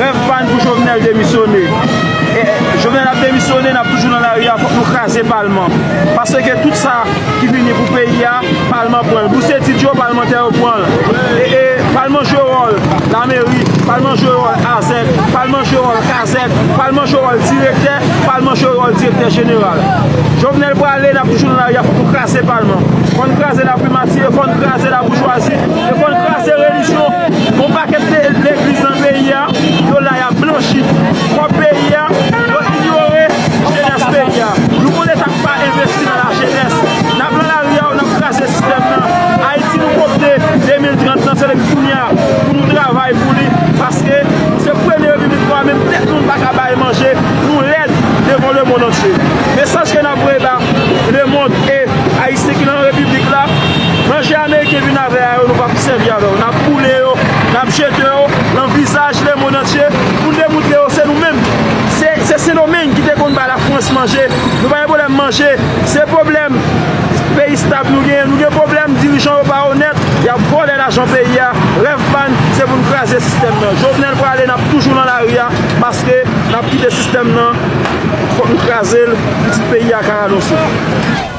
Rèv pa n pou Jovenel demisyone. Jovenel ap demisyone, n ap toujou nan lari a, fòk nou kraze palman. Pase ke tout sa. ki vini pou peyi a palman pranl bous etid yo palmantè yo pranl ee palman jwe wòl lameri palman jwe wòl asèk palman jwe wòl kasèk palman jwe wòl direktè palman jwe wòl direktè jeneral jovenel prale nap toujou nan lari a fòk nou kraze palman fòk nou kraze laprimati e fòk nou kraze laboujwazi e fòk nou kraze relijyon gon pakèt legliz nan peyi a yo la yap blanchi kòb peyi a yo inyore jenès peyi a nou konn etak. Pa envesti nan la jenès. Nap lan la ri a ou nap kraze sistèm nan. Ayiti nou kopte 2030 lan se depi kounye a pou nou travay pou li paske nou se premye repiblik nwa menm tèt nou nou pa ka bay manje nou lèd devan le mond antye. Mesaj ke nap voye ba le mond e ayisyen ki lan repiblik la manje ameriken vin avè a yo nou pap sèvi avè yo nap boule yo nap jete yo lan vizaj le mond antye pou nou demoutre yo se nou menm se sendomeng ki te konn bay la. Frans manje Nou pa gen pwoblèm manje Se pwoblèm Peyi stab nou genyen Nou gen pwoblèm dirijan yo pa onèt Yap vòlè lajan peyi a Rèv pa n se pou n kraze sistèm nan Jovenel prale nap toujou nan lari a Paske nap kite sistèm nan Fòk nou kraze l Pitit peyi a ka ranonse.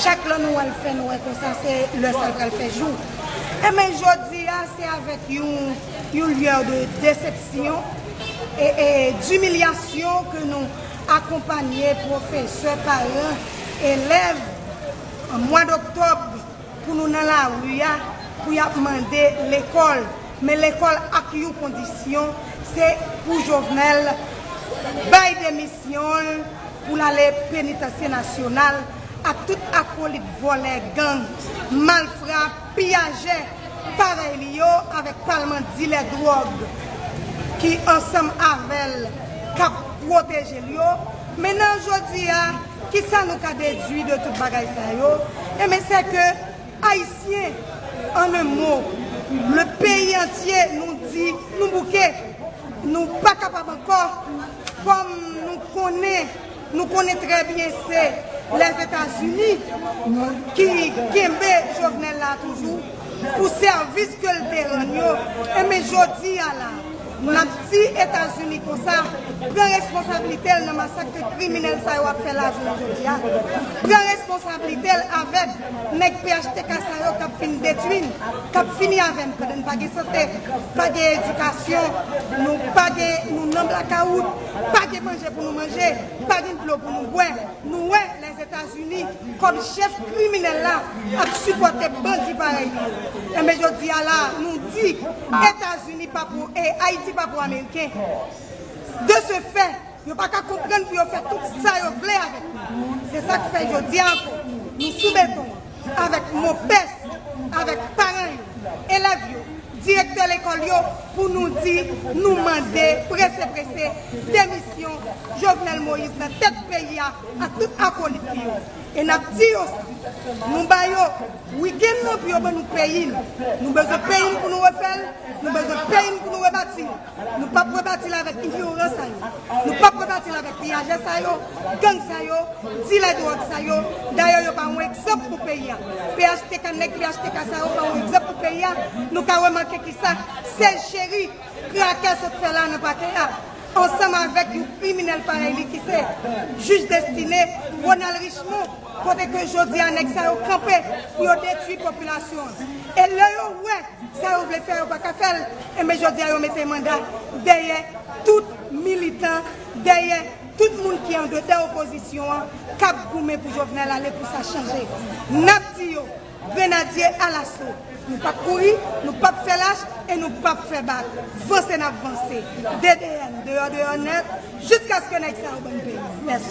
Chak lè nou wè l fè nwè konsa se lè sa l pral fè jou. Enben jodi a se avèk yon lyè de desepsyon e dimilyasyon ke nou akonpanye pwofesè, paran, elèv an mwad oktòb. Pou nou nan lari a pou yap mande lekòl men lekòl ak yon kondisyon se pou Jovenel bay demisyon l pou l ale penitansye nasyonal ak tout akolit vòlè gang malfra piyajè parèy li yo avèk palman dilè dwòg ki ansanm avèl kap pwoteje l yo men nan jodi a. Kisa nou ka dedwi de tout bagay sa yo? Enben, sè ke Ayisyen, an un mo, le peyi antye, nou di, nou bouke, nou pa kapab ankò, kòm nou konnen, nou konnen trè byen se Lèzetazini ki kenbe Jovenel la toujou pou sèvis ke l te rann yo, enben jodi a la, Map di etazini konsa pran responsablitel nan masak ke kriminel sa yo ap fè la jounen jodi a pran responsablitel avek neg phtk sa yo kap fin detwin kap fini avem pandan n pa gen sante pa gen edikasyon nou pa gen nou nan blakawout pa gen manje pou nou manje pa gen dlo pou nou bwè nou wè les etazini kom chef kriminel la ap sipote bandi parey li yo enben jodi a la nou di etazini. Ni pa pou e Ayiti pa pou Ameriken. De se fè, yo pa ka konprann pou yo fè tout sa yo vle avèk nou. Se sa k fè jodi a ankò, nou sou beton an avèk monpès, avèk paran yo, elèv yo, direktè lekòl yo pou nou di, nou mande prese prese demisyon Jovenel Moïse nan tèt peyi a ak tout akolit li yo. E n ap di yo sa. Nou ba yo. Weekend lan pou yo ban nou peyi n. Nou bezwen peyi n pou nou refè l, nou bezwen peyi n pou nou rebati l. Nou pap rebati l avèk enviroran sa yo. Nou pap rebati l avèk piyajè sa yo, gang sa yo, dilè dwòg sa yo. Dayè yo pa yon egzanp pou peyi a. Phtk, nèg phtk sa yo pa yon egzanp pou peyi a. Nou ka remake kisa Sèj Cheri, krakè sot fè la nan pakè a. Ansanm avèk yon kriminèl parèy li ki se Jij Destine, Ronald Richemond. Kote ke jodi a nèg sa yo kanpe pou yo detwi popilasyon an. E lè yo wè sa yo vle fè yo pa ka fè l, enben jodi a yo mete manda dèyè tout militan, dèyè tout moun ki andedan opozisyon an k ap goumen pou Jovenel ale pou sa chanje. N ap di yo, Grenadye alaso! Nou p ap kouri, nou p ap fè lach e nou p ap fè bak. Vanse n ap vanse. DDN deyò deyò nèt jiskaske nèg sa yo ban n peyi. Mèsi.